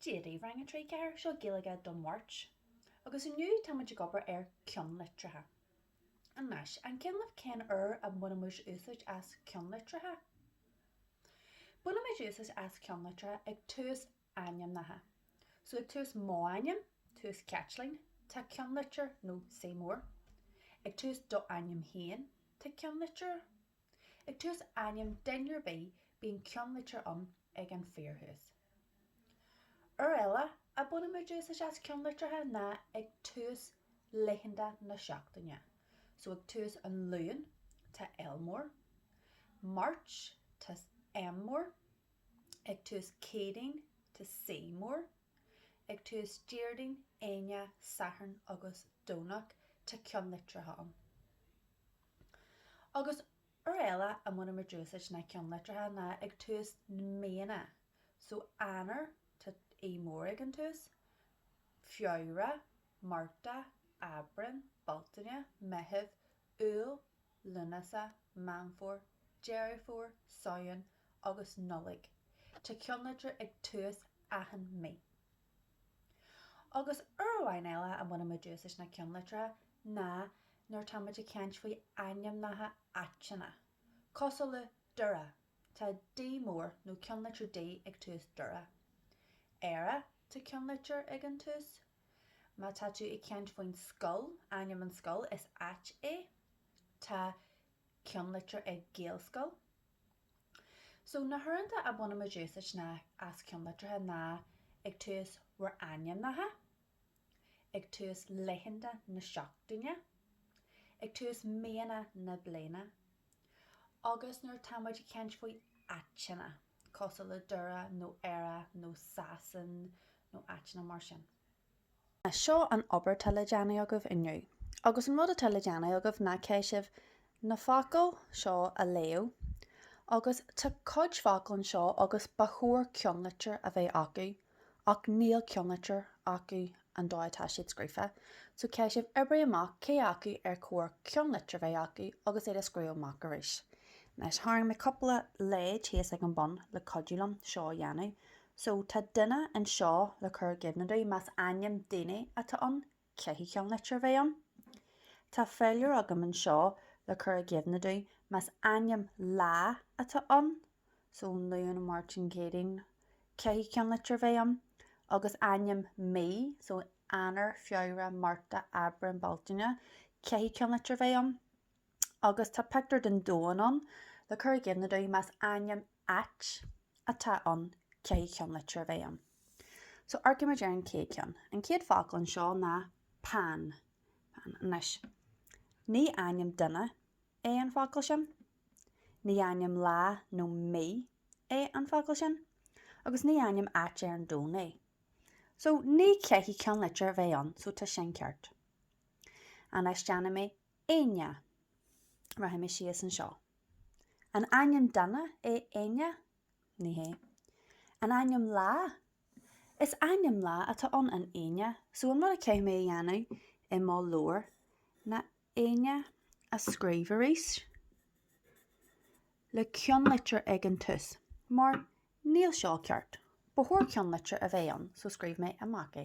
Dia daoibh Rang 3 4 seo Gaeilge don Mháirt agus inniu táimid ag obair ar ceannlitreacha. Anois, an cuimhin libh cén uair a mbainimid úsáid as ceannlitreacha. Bainimid úsáid as ceannlitreacha ag tús ainmneacha. So ag tús mo ainm, tús Caitlín, tá ceannlitir nó C mór. Ag tús do ainm féin, tá ceannlitir. Ag tús ainm duine ar bith bíonn ceannlitir ann ag an fíorthús. Uair eile a bainimid úsáid as ceannlitreacha ná ag tús laethanta na seachtaine, so ag tús an Luan tá L mór, Máirt tá M mór, ag tús Céadaoin tá C mór, ag tús Déardaoin, Aoine, Satharn agus Domhnach tá ceannlitreacha ann. Agus uair eile a mbainimid úsáid na ceannlitreacha ná ag tús na míonna. So Eanáir, tá E mór ag an tús, Feabhra, Márta, Aibreán, Bealtaine, Meitheamh, Iúil, Lúnasa, Meán Fómhair, Deireadh Fómhair, Samhain agus Nollaig. Tá ceannlitir ag tús achan mí. Agus uair amháin eile a mbainimid úsáid na ceannlitreacha ná nuair táimid ag caint faoi ainmneacha áiteanna. Cosúil le Doire, tá D mór nó ceannlitir D ag tús Doire. Éire, tá ceannlitir ag an tús. Má tá tú ag caint faoin scoil, ainm an scoil, is áit é. Tá ceannlitir ag Gaelscoil. So na huaireanta a bhainimid úsáid ná as ceannlitreacha ná ag tús bhur ainmneacha, ag tús laethanta na seachtaine, ag tús míonna na bliana agus nuair táimid ag caint faoi áiteanna, cosúil le Doire nó Éire nó Sasana nó áiteanna mar sin. Seo an obair tá le déanamh agaibh inniu. Agus an rud atá le déanamh agaibh ná caithfidh sibh na focail seo a léamh agus tá cuid focal anseo agus ba chóir ceannlitir a bheith acu ach níl ceannlitir acu an dóigh atá siad scríofa so caithfidh sibh oibrigh amach cé acu ar chóir ceannlitir bheith acu agus iad a scríobh amach arís. Anois tharraing mé cúpla leid thíos ag an bun le cuidiú liom seo a dhéanamh. So tá duine anseo le cur i gcuimhne duit, más ainm duine atá ann, caithfidh ceannlitir a bheith ann. Tá féilire agam anseo le cur i gcuimhne duit, más ainm lá atá ann, so Luan, Máirt nó Céadaoin, caithfidh ceannlitir a bheith ann. Agus ainm mí, so Eanáir, Feabhra, Márta, Aibreán, Bealtaine, caithfidh ceannlitir a bheith ann. Agus tá pictiúr den domhan ann le cur i gcuimhne duit, más ainm Ait atá ann caithfidh ceannlitir a bheith ann. So amharcaimid ar an chéad cheann. An chéad focal anseo ná Pan. Pan. Anois, ní ainm duine é an focal sin. Ní ainm lá nó mí é an focal sin. Agus ní ainm áit ar an domhan é. So ní chaithfidh ceannlitir a bheith ann, so tá sin ceart. Anois déanfaidh mé Aoine. Rachaidh mé síos anseo. An ainm duine é Aoine? Ní hé. An ainm lá? Is ainm lá atá ann, an Aoine, so an rud a chaithfidh mé a dhéanamh i mo leabhar ná Aoine a scríobh arís le ceannlitir ag an tús, mar níl seo ceart. Ba chóir ceannlitir a bheith ann, so scríobhfaidh mé amach é.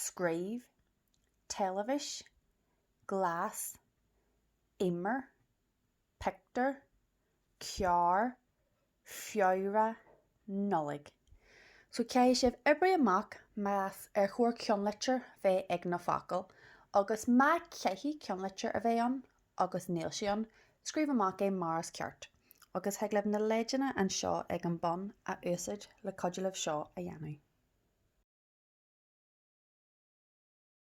scríobh, teilifis, glas, imir, pictiúr, carr, Feabhra, Nollaig. So caithfidh sibh oibrigh amach más chóir ceannlitir bheith ag na focail agus má chaithfidh ceannlitir a bheith ann agus níl sé ann, scríobh amach é mar is ceart, agus thig libh na leideanna anseo ag an bun a úsáid le cuidiú libh seo a dhéanamh.